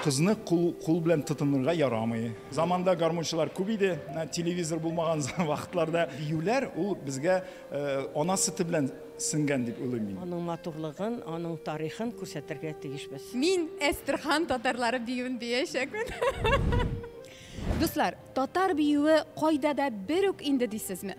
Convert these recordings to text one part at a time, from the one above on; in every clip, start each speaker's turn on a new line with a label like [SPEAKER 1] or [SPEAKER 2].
[SPEAKER 1] кызны кул, кул белән тотынырга ярамый заманда гармунчылар күп иде телевизор булмаган вакытларда биюләр ул безгә э, ана сөте белән сеңгән дип уйлыйм мин аның матурлыгын
[SPEAKER 2] аның тарихын күрсәтергә тиешбез мин әстерхан
[SPEAKER 3] татарлары биюен биячәкмен дуслар татар биюе кайда да бер үк инде дисезме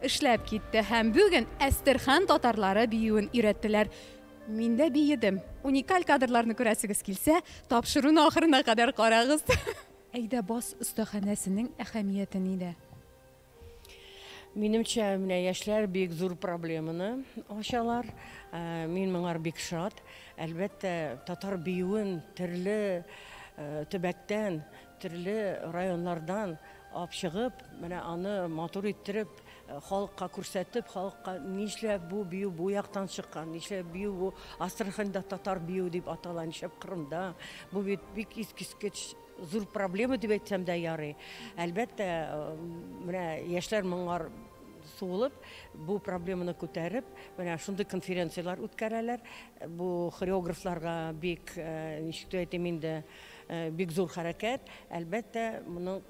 [SPEAKER 3] Эшләп китте һәм бүген Әстерхан татарлары биюен өйрәттеләр. Мин дә биедем. Уникаль кадрларны күрәсегез килсә, тапшыруны ахырына кадәр карагыз. Әйдә бас остаханәсенең әһәмияте нидә?
[SPEAKER 2] Минемчә, менә яшьләр бик зур проблеманы ачалар. Мин моңар бик шат. Әлбәттә, татар биюен төрле төбәктән, Төрле районнардан алып чыгып, менә аны матур иттереп, халыкка күрсәтеп, халыкка нишләп бу бию бу яктан чыккан, нишләп бию бу Астраханьда татар биюе дип атала, нишләп Кырымда, бу бит бик искиткеч зур проблема дип әйтсәм дә ярый. Әлбәттә, менә яшьләр моңар суылып, бу проблеманы күтәреп, менә шундый конференцияләр үткәрәләр. Бу хореографларга бик, ничек дип әйтим инде, Бик зур хәрәкәт. Әлбәттә, моның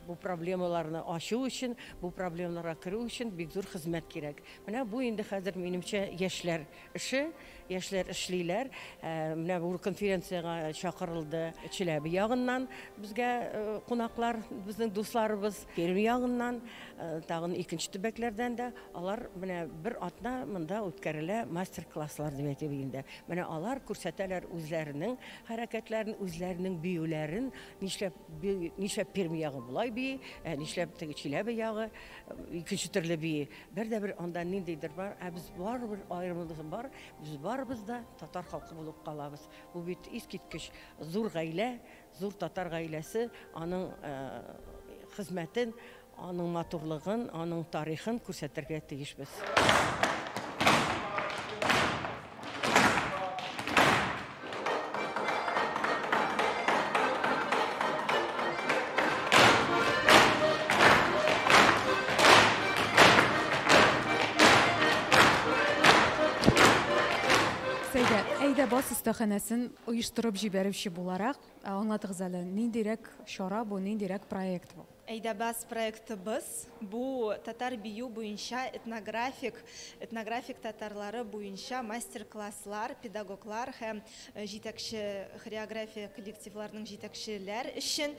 [SPEAKER 2] бу проблемаларны ачу өчен, бу проблемаларга керү өчен бик зур хезмәт кирәк. Менә бу инде хәзер, минемчә, яшьләр эше, яшьләр эшлиләр. Менә бу конференциягә чакырылды Чиләбе ягыннан безгә кунаклар, безнең дусларыбыз, Пермь ягыннан, тагын икенче төбәкләрдән дә. Алар менә бер атна монда үткәрелә мастер-класслар дип әйтик инде. Менә алар күрсәтәләр үзләренең Хәрәкәтләрен, үзләренең биюләрен, нишләп бии, нишләп Пермь ягы болай бии, ә нишләп теге Чиләбе ягы икенче төрле бии. Бер дә бер анда ниндидер бар, ә без барыбер аерымыбыз бар, без барыбыз да татар халкы булып калабыз. Бу бит искиткеч зур гаилә, зур татар гаиләсе, аның хезмәтен, Аның матурлыгын, аның тарихын күрсәтергә тиешбез.
[SPEAKER 3] Сәйдә, әйдә бас остаханәсен оештырып җибәрүче буларак, аңлатыгыз әле, ниндирәк чара бу, ниндирәк проект бу? Әйдәбез проектыбыз
[SPEAKER 4] бу татар бию буенча этнографик, этнографик татарлары буенча мастер-класслар, педагоглар һәм җитәкче хореография коллективларының җитәкчеләр өчен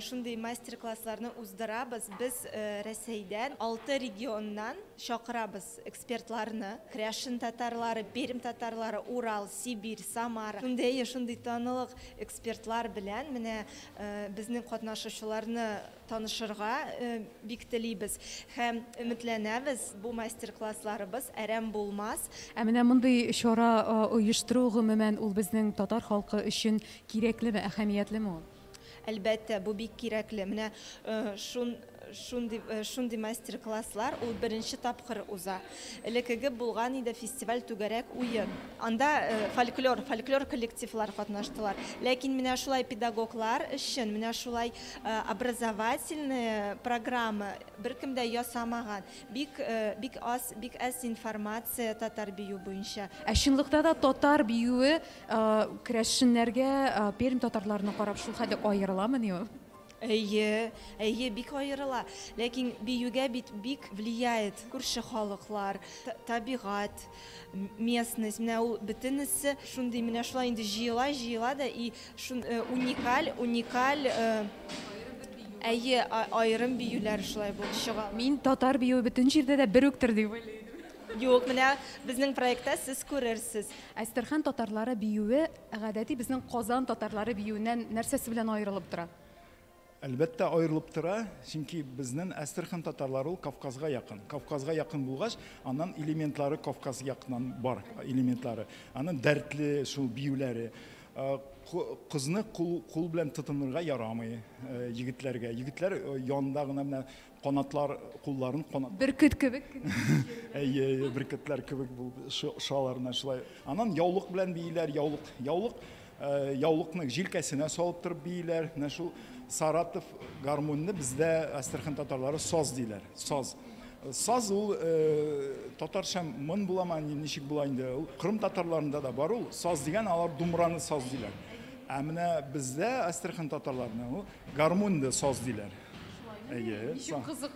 [SPEAKER 4] шундый мастер-классларны уздырабыз. Без Рәсәйдән алты регионнан чакырабыз экспертларны. Кряшин татарлары, Пермь татарлары, Урал, Сибирь, Самара. Шундый, шундый танылык экспертлар белән менә Безнең катнашучыларны танышырга бик телибез һәм өметләнәбез, бу мастер-классларыбыз әрәм булмас. Ә менә мондый
[SPEAKER 3] чара оештыру, гомумән, ул безнең татар халкы өчен кирәклеме, әһәмиятлеме ул? Әлбәттә,
[SPEAKER 4] бу бик кирәкле. Менә Шундый шундый мастер-класслар ул беренче тапкыр уза. Элекеге булган иде фестиваль түгәрәк уен. Анда фольклор, фольклор коллективлар катнаштылар. Ләкин менә шулай педагоглар өчен менә шулай образовательный программа беркем дә ясамаган. Бик бик аз, бик әз информация татар бию буенча. Ә чынлыкта да
[SPEAKER 3] татар биюе крәшеннәргә, Пермь татарларына карап шулхәтле аерыламыни ул? Әйе,
[SPEAKER 4] әйе, бик аерыла. Ләкин биюгә бит бик влияет күрше халыклар, табигать, местность. Менә ул бөтенесе шундый менә шулай инде җыела, җыела да и шун э, уникаль, уникаль э, Әйе, аерым биюләр шулай булып чыга. Мин татар биюе
[SPEAKER 3] бөтен җирдә дә бер үктер дип уйлыйм. Юк, менә
[SPEAKER 4] безнең проектта сез күрерсез. Әстерхан татарлары
[SPEAKER 3] биюе Ә гадәти безнең Казан татарлары биюеннән нәрсәсе белән аерылып тора? Әлбәттә,
[SPEAKER 1] аерылып тора, чөнки безнен Әстерхан татарлары ул Кавказга якын. Кавказга якын булгач, аннан элементлары Кавказ якыннан бар элементлары. Анын дәртле шул биюләре. Кызны кул белән тотынырга ярамый егетләргә. Егетләр янында гына менә Канатлар, кулларын канат. Бөркет кебек кенә
[SPEAKER 3] җирне. Әйе,
[SPEAKER 1] әйе, бөркетләр кебек булып шо- шалар менә шулай. Аннан яулык белән бииләр, яулык, яулык, э, яулыкны җилкәсенә салып торып бииләр. Менә шул Саратов гармуньны бездә Әстерхан татарлары саз диләр. Саз. Саз ул э, татарча мын буламы, ни- ничек була инде? Ул Кырым татарларында да бар ул. Саз дигән алар думраны саз диләр. Ә менә бездә Әстерхан татарларына ул Гармун да саз диләр. Әйе. Ничек кызык.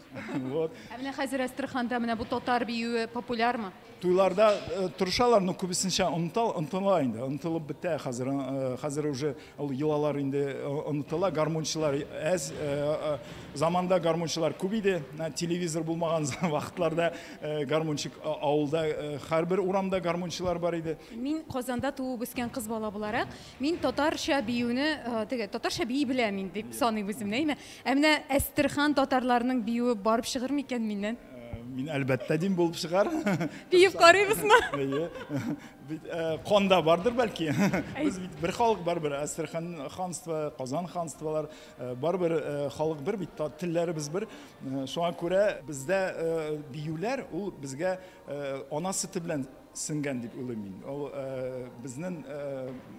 [SPEAKER 3] Вот. Ә менә
[SPEAKER 1] хәзер
[SPEAKER 3] Әстерханда менә бу татар биюе популярмы? Туйларда
[SPEAKER 1] э, торышалар, но күбесенчә онытал, онытыла инде, онытылып бетә хәзер. э, Хәзер уже ул йолалар инде э, онытыла, гармунчылар әз. э, э, Заманда гармунчылар күп иде, Ә телевизор булмаган вакытларда э, гармунчик а- авылда э, һәрбер урамда гармунчылар бар иде. Мин Казанда
[SPEAKER 3] туып үскән кыз бала буларак, Мин татарча биюне, теге, татарча бии беләм мин дип саныйм үземне, әйме? Ә менә Әстерхан татарларының биюе барып чыгыр микән миннән? Мин әлбәттә
[SPEAKER 1] дим булып чыгар. Биеп
[SPEAKER 3] карыйбызмы? Әйе. Бит
[SPEAKER 1] канда бардыр бәлки. Без бит бер халык барыбер, Әстерхан ханство, Казан ханстволар, барыбер халык бер бит, телләребез бер. Шуңа күрә бездә биюләр ул безгә ана сөте белән сеңгән дип уйлыйм мин. Ул безнең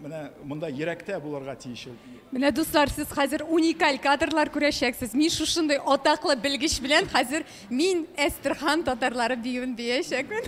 [SPEAKER 1] менә монда йөрәктә булырга тиеш ул. Менә дуслар,
[SPEAKER 3] сез хәзер уникаль кадрлар күрәчәксез. Мин шушындый атаклы белгеч белән хәзер мин Әстерхан татарлары биюен биячәкмен.